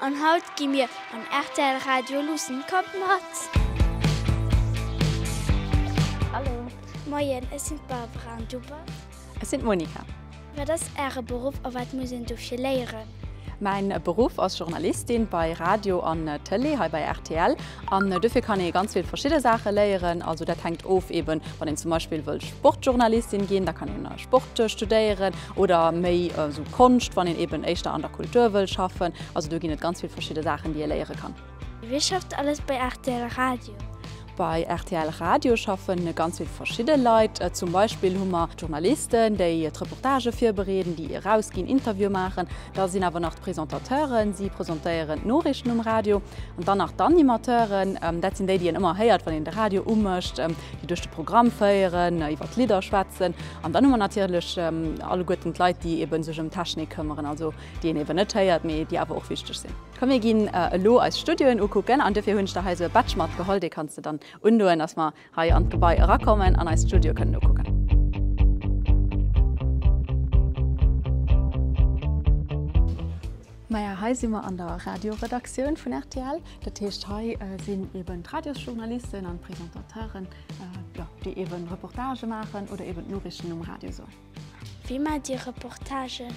An haut gi mir am rtl Radio luussen kommt mat! Hallo. Moien, ech sinn d'Barbara an du bass? Ech sinn d'Monika. Wat ass Äre Beruff a wat muss een dofir léieren? Mäin Beruff ass Journalistin bei Radio an Tëlee hei bei rtl. An dofir kann ee ganz vill verschidde Saache léieren. Also dat hänkt of, eeben wann een zum Beispill wëll Sportjournalistin ginn, da kann een Sport studéieren. Oder méi esou Konscht, wann een eben éischter an der Kultur wëll schaffen. Also do ginn et ganz vill verschidde Saachen, déi ee léiere kann. Wie schafft alles bei rtl Radio? Bei rtl Radio schaffe ganz vill verschidde Leit. Zum Beispill hu mer d'Journalisten, déi d'Reportagë virbereeden, déi erausginn, Interviewe maachen. Da sinn awer nach d'Presentateuren, si presentéieren d'Noriichten um Radio. An dann nach d'Animateuren, dat sinn déi, déi een ëmmer héiert, wann een de Radio umécht, déi duerch de Programm féieren, iwwer d'Lidder schwätzen. An dann hu mer natierlech alleguerten d'Leit, déi eeben sech ëm d'Technik këmmeren, also déi een eeben net héiert, mee déi awer och wichteg sinn. Komm mir ginn elo eis Studioen ukucken an duerfir hunn ech der hei esou e Badge matgeholl, dee kanns de dann undoen, datt mer hei an d'Gebai erakommen an eis Studioe kënnen ukucken. Maja, hei si mer an der Radioredaktioun vun rtl. Dat heescht, hei sinn eeben d'Radiosjournalisten an d'Presentateuren. Déi eben Reportage maachen oder eben d'Noriichten um Radio soen. Wéi maacht Dir Reportagen?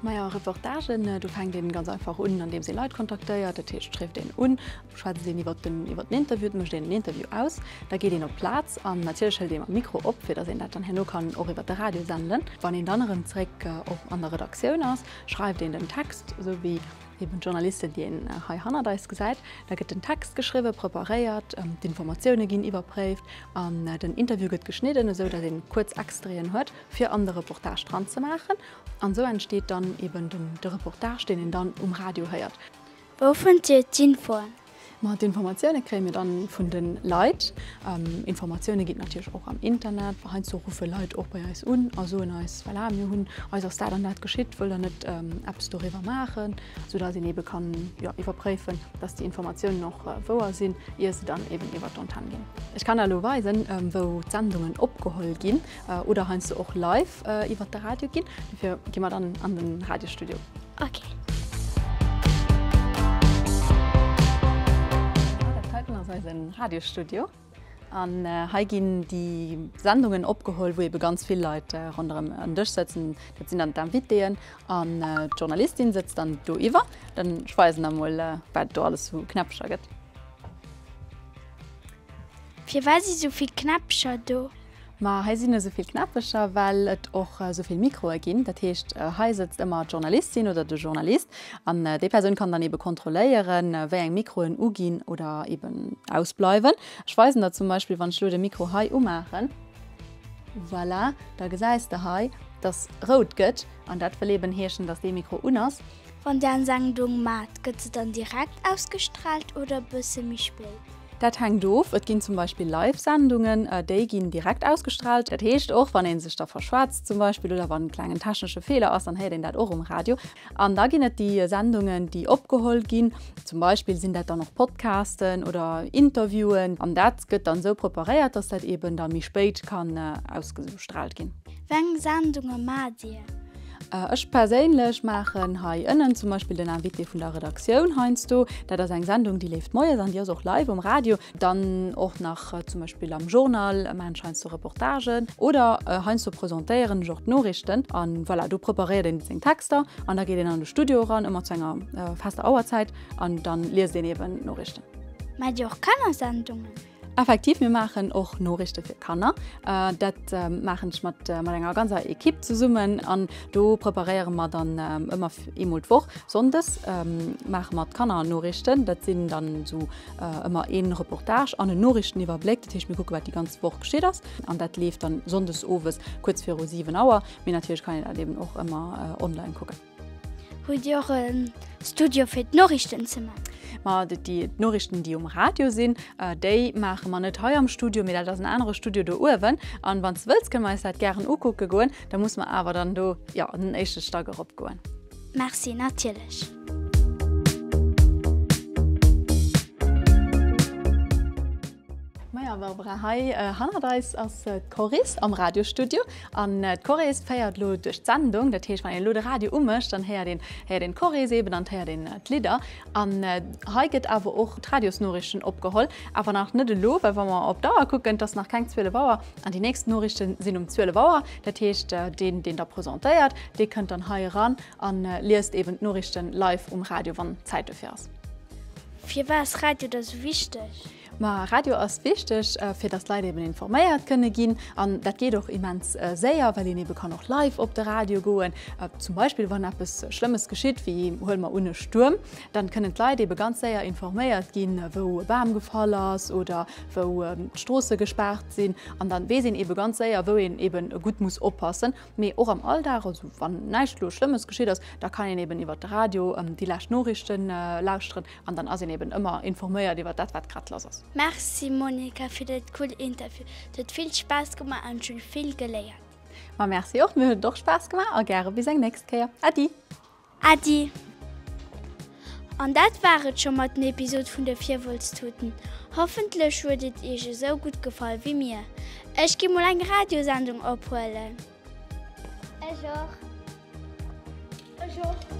Majo, Reportagen, do fänkt een ganz einfach un, an deems ee Leit kontaktéiert. Dat heescht, schréift een un, schwätzt een iwwer den iwwer den Interview, et mécht een en Interview aus. Da geet een op d'Plaz an natierlech hëlt ee mam Mikro op, fir datt een dat dann herno kann och iwwer de Radio senden. Wann een dann erëm zeréck op an der Redaktioun ass, schreift een den Text, esou wéi Eben d'Journalisten, déi een hei hannert eis gesäit. Da gëtt den Text geschriwwen, preparéiert, d'Informatioune ginn iwwerpréift an den Interview gëtt geschnidden, esou datt een kuerz Extraiten huet, fir an de Reportage dranzemaachen. An esou entsteet dann eben de Reportage, deen een dann um Radio héiert. Wou fënnt Dir d'Infoen? Ma d'Informatioune kréie mir dann vun de Leit. Informatioune ginn et natierlech och am Internet. Heiansdo ruffe Leit och bei eis un a soen eis, voilà, mir hunn, eis ass dat an dat geschitt, wëllt der net eppes doriwwer maachen? Sou datt een eebe kann, jo, iwwerpréifen, datt déi Informatiounen och wouer sinn, ier se dann eeben iwwert d'Antenn ginn. Ech kann der elo weisen, wou d'Sendungen opgeholl ginn. Oder heiansdo och live iwwert de Radio ginn. Dofir gi mer dann an den Radiostudio. Ok. Dat heiten ass eisen Radiostudio. An hei ginn déi Sendungen opgeholl, wou ebe ganz vill Leit ronderëm en Dësch sëtzen. Dat sinn dann d'Invitéen an d'Journalistin sëtzt dann do iwwer. Dann ech weisen der mol, wat et do alles esou Knäppecher gëtt. Firwat si sou vill Knäppecher do? Ma hei sinn esouvill Knäppecher, well et och esouvill Mikroe ginn. Dat heescht, hei sëtzt ëmmer d'Journalistin oder de Journalist an déi Persoun kann dann eebe kontrolléieren, wéi eng Mikroen uginn oder eeben ausbleiwen. Ech weisen der zum Beispill, wann ech elo de Mikro hei umaachen. Voilà, da gesäis de hei, dass rout gëtt an dat wëll eeben heeschen, dass dee Mikro un ass. Wann den Sendung maat gëtt se dann direkt ausgestraalt oder e bësse méi spéit? Dat hänkt of, et ginn zum Beispill Live Sendungen, déi ginn direkt ausgestraalt. Dat heescht och wann een sech da verschwätzt zum Beispill oder wann en klengen technesche Feeler ass, dann héiert een dat och um Radio. An da ginn et déi Sendungen déi opgeholl ginn, zum Beispill sinn dat dann och Podcasten oder Interviewen. An dat gëtt dann esou preparéiert, dass dat eben da méi spéit kann ausgestrahlt ginn. Weng Sendunge maat dir? Ech perséinlech maachen hei ënnen zum Beispill den Invité vun der Redaktioun heiansdo. Dat ass eng Sendung, déi leeft moies an déi ass och live um Radio. Dann och nach zum Beispill am Journal maachen ech heiansdo Reportagen oder heiansdo presentéieren ech och d'Noriichten. A voilà, do preparéiert een seng Texter an da geet een an de Studio eran, ëmmer zu enger fester Auerzäit, an da liest een eeben d'Noriichten. Maacht Dir och Kannersendungen? Effektiv, mir maachen och Noriichte fir Kanner. Dat maachen ech mat enger ganzer Ekipp zesummen an do preparéiere mer dann ëmmer eemol d'Woch. Sonndes maache mer d'Kannernoriichten. Dat sinn dann esou ëmmer ee Reportage an en Noriichteniwwerbléck. Dat heescht, mir kucke wat déi ganz Woch geschitt ass an dat leeft dann Sonndes owes kuerz viru 7 Auer. Mee natierlech kann een dat eeben och ëmmer online kucken. Hutt Dir och e Studio fir d'Noriichten ze maachen? Ma d'Noriichten, déi um Radio sinn, déi maache mer net hei am Studio, mee dat ass en anere Studio do uewen. An wann s de wëlls, kënne mer eis dat gären ukucke goen. Da muss mer awer dann do, jo, an den éischte Stack eropgoen. Merci, natierlech. Maja Barbara, hei hannert eis ass d'Coris am Radiostudio. An d'Coris féiert elo duerch d'Sendung. Dat heescht, wann een elo de Radio umécht, dann héiert een, héiert een d'Coris eeben an et héiert een d'Lidder. An hei gëtt awer och d'Radiosnoriichten opgeholl. Awer nach net elo, well wa mer op d'Auer kucken, et ass nach keng 12 Auer. An déi nächst Noriichte sinn um 12 Auer. Dat heescht, deen, deen da presentéiert, dee kënnt dann hei eran A liest eben d'Noriichten live um Radio, wann Zäit dofir ass. Firwat ass Radio da sou wichteg? Ma Radio ass wichteg, fir datt d'Leit eben informéiert kënne ginn. An dat geet och immens séier, well een ebe kann och live op de Radio goen. Zum Beispill wann eppes Schlëmmes geschitt, wéi huele mer un e Stuerm, da kënnen d'Leit ebe ganz séier informéiert ginn, wou e Bam gefall ass oder wou d'Stroosse gespaart sinn. An da weess een ebe ganz séier, wou een eben gutt muss oppassen. Mee och am Alldag, also wann näischt elo Schlëmmes geschitt ass, da kann een eben iwwert de Radio déi lescht Noriichte lauschteren an dann ass een eben ëmmer informéiert iwwert dat wat grad lass ass. Merci Monica fir dat cool Interview. Et huet vill Spaass gemaach an ech hunn vill geléiert. Ma merci och, mir huet et och Spaass gemaach a gäre bis eng nächst Kéier. Äddi! Äddi. An dat war et scho mat den Episode vun de Virwëlztuten. Hoffentlech huet et iech esou gutt gefall wéi mir. Ech gi mol eng Radiosendung ophuelen. Ech och. Ech och.